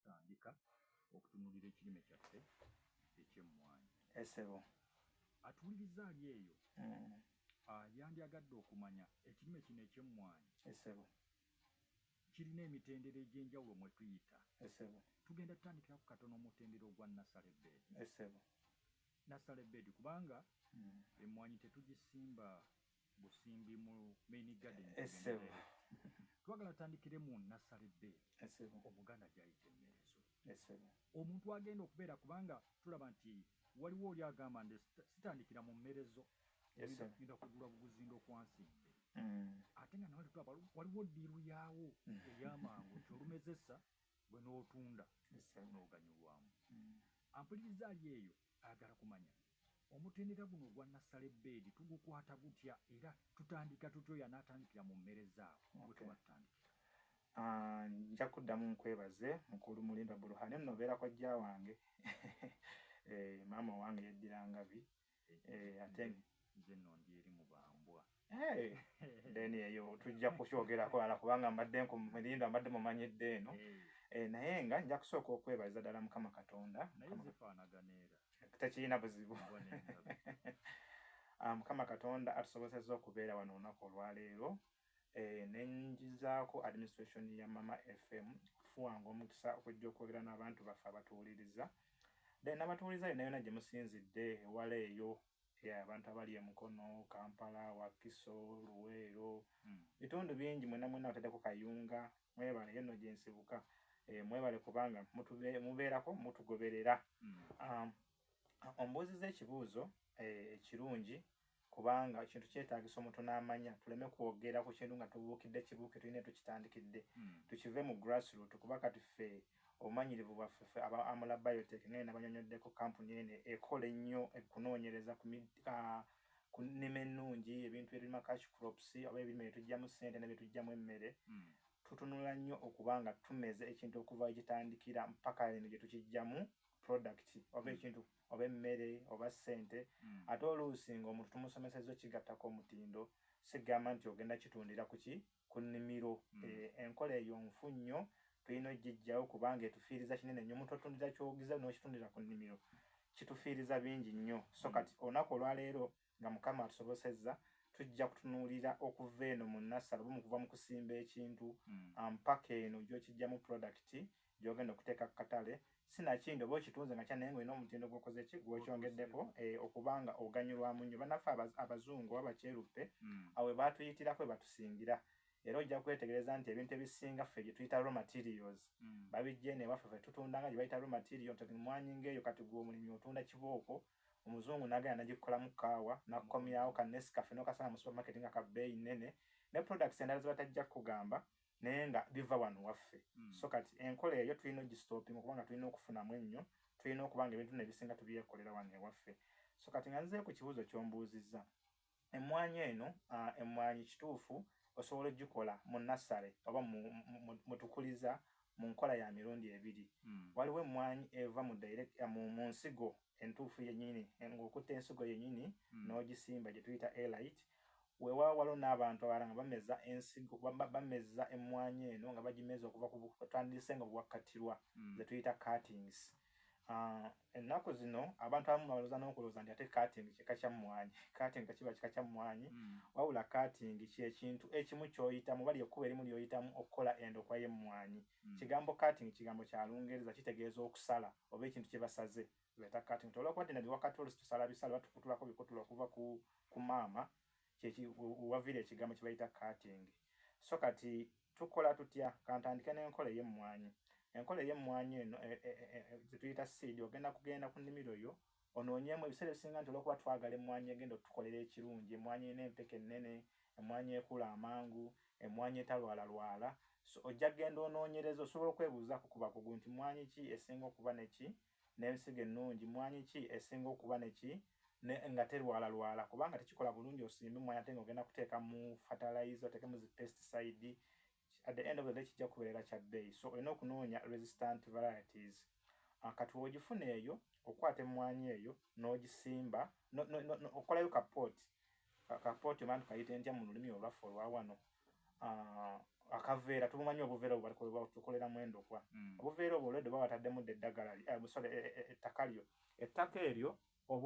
tandika okutunulira ekirime kyaffe ekyemmwanyi esebo atuwuliriza ali eyo mm. ah, yandyagadde okumanya ekirime kino ekyemmwanyi esebo kirina emitendera egy'enjawulo mwe tuyita esebo tugenda tutandikira ku katono omutendera ogwa nasale bed esebo nasale bed kubanga mm. emmwanyi tetugisimba busimbi mu main garden eh, esebo twagala tandikire mu nasale be esebo omuganda jayite mezo esebo omuntu agenda okubeera kubanga tulaba nti waliwo oli agamba nti sitandikira mu mmerezo ngenda kugula buguzi ndokwansimbe mm. ate nga nawali tulaba waliwo ddiiru yaawo mm. eyamangu nti olumezesa gwe n'otunda n'oganyulwamu mm. ampuliriza ali eyo ayagala kumanya Omutendera guno ogwa Nassale Bbeedi tugukwata gutya era tutandika tutya oyo anaatandikira mu mmere zaabwe gwe tuba tutandikira? Ah, nja kuddamu nkwebaze mukulu Mulinda Buruhane nno obeera kojja wange eh, maama wange yeddira Ngabi eh, ate nze nno ndi eri mu bambwa. Eh, then eyo tujja kukyogerako ala kubanga mbadde nkumirindo mbadde mumanyidde eno eh. Eh, naye nga nja kusooka okwebaza ddala mukama katonda tekirina buzibu ah, mukama katonda atusobozesa okubeera wano olunaku olwaleero nenjizaako administration ya mama fm okufuwanga omukisa okujja okwogera n'abantu baffe abatuwuliriza then nabatuwuliriza yona yona gyemusinzidde ewala eyo Yeah, abantu abali e Mukono, Kampala, Wakiso, Luweero, mm. bitundu bingi mwena mwena batadeko kayunga mwebale yeno gyensibuka e, mwebale kubanga mubeerako mutugoberera mm. um, ombuuziza ekibuuzo eh, ekirungi e, kubanga ekintu kyetagisa omuntu n'amanya tuleme kwogera ku kintu nga tubuukidde kibuuke tulina tukitandikidde mm. tukive mu grassroot kuba kati ffe obumanyirivu bwaffe ffe aba Amula Biotech ng'eno abanyonyoddeko kkampuni eno ekola ennyo ekunoonyereza ku ku nnima ennungi ebintu bye tulima cash crops oba ebirime bye tuggyamu ssente ne bye tuggyamu emmere hmm. tutunula nnyo okuba nga tumeze ekintu okuva ekitandikira mpaka eno gye tukiggyamu product oba hmm. ekintu oba emmere oba ssente hmm. ate oluusi ng'omuntu tumusomeseza okigattako omutindo sigamba nti ogenda kitundira kuki ku nnimiro. Enkola eyo nfu nnyo, tulina okugiggyawo kubanga etufiiriza kinene nnyo. Omuntu otundira kyogize n'okitundira ku nnimiro kitufiiriza bingi nnyo. So kati olunaku olwaleero nga Mukama atusobosezza, tujja kutunuulira okuva eno mu nnassale oba okuva mu kusimba ekintu mpaka eno gy'okiggyamu pulodakiti gyogenda okuteeka ku katale sinakindi oba okitunze nga kyanaye ngaolina omutindo gwokoze ki gwokyongeddeko eh, okubanga oganyulwamu nnyo banaffe abazungu oba bakyeruppe hmm. awe baatuyitirako webatusingira era ojja kwetegereza nti ebintu ebisinga ffe gyetuyita raw materials hmm. babijje newaffe fe tutunda nga gyebayita raw material nti mwanyi ngaeyo kati gwe omulimi otunda kibooko omuzungu nagenda nagikolamu kaawa nakukomyawo kanesikafe nokasanga mu supermarket nga kabeeyi nnene ne products endala zebatajja kukugamba naye nga biva wano waffe mm. so kati enkola eyo tulina ogistopinga kubanga tulina okufunamu ennyo tulina okuba nga ebintu nebisinga tubyekolera wano ewaffe so kati nga nzee ku kibuuzo kyombuuzizza emmwanyi eno uh, emmwanyi kituufu osobola ogikola mu nassale oba mutukuliza mu nkola ya mirundi ebiri mm. waliwo emmwanyi eva mu, direct, uh, mu, mu nsigo entuufu yennyini ng'okutte ensigo yennyini hmm. n'ogisimba gye tuyita elite weewaawo waliwo n'abantu abalala nga bameza ensigo bameza emmwanyi eno nga bagimeza okuva kutandise nga bwakkattirwa hmm. ze tuyita cuttings ah, ennaku zino abantu abamu baloza n'okulooza nti ate cutting kika kya mmwanyi cutting tekiba kika kya mmwanyi hmm. wabula cutting kyekintu ekimu kyoyitamu bali ekkuba erimu lyoyitamu okukola endokwa y'emmwanyi kigambo cutting kigambo kya lungereza kitegeeza okusala mm. oba ekintu kye basaze beta cutting to olwa kwadina biwa katolo situsala bisala batukutula ko bikutula okuva ku ku mama kyeki wavira ekigambo kibayita cutting so kati tukola tutya kantandike n'enkola ey'emmwanyi enkola ey'emmwanyi eno e, e, e, e, e, tuyita seed ogenda kugenda ku nnimiro yo Onoonyeemu, ebiseera ebisinga nti olw'okuba twagala emmwanyi egenda otukolera ekirungi, emmwanyi erina empeke ennene, emmwanyi ekula amangu, emmwanyi etalwalalwala, so ojja kugenda onoonyereze. Osobola okwebuuzaako ku bakugu nti mmwanyi ki esinga okuba ne ki, n'ensigo ennungi, mmwanyi ki esinga okuba ne ki ne nga terwalalwala kubanga tekikola bulungi osimbe emmwanyi ate ng'ogenda kuteeka mu fatalayiza, oteekemu zi pesticide, at the end of the day kijja kubeerera kya bbeeyi so olina okunoonya resistant varieties ah, kati wogifuna eyo okwata emmwanyi eyo n'ogisimba okolayo kapot kapot oba tukayite ntya mu lulimi olwaffe olwa wano ah, akaveera tumumanyi obuveera obwo tukoleramu endokwa mm. obuveera obwo olwedde oba wataddemu dda eddagala eh, sorry eh, eh, ettaka lyo ettaka eryo oba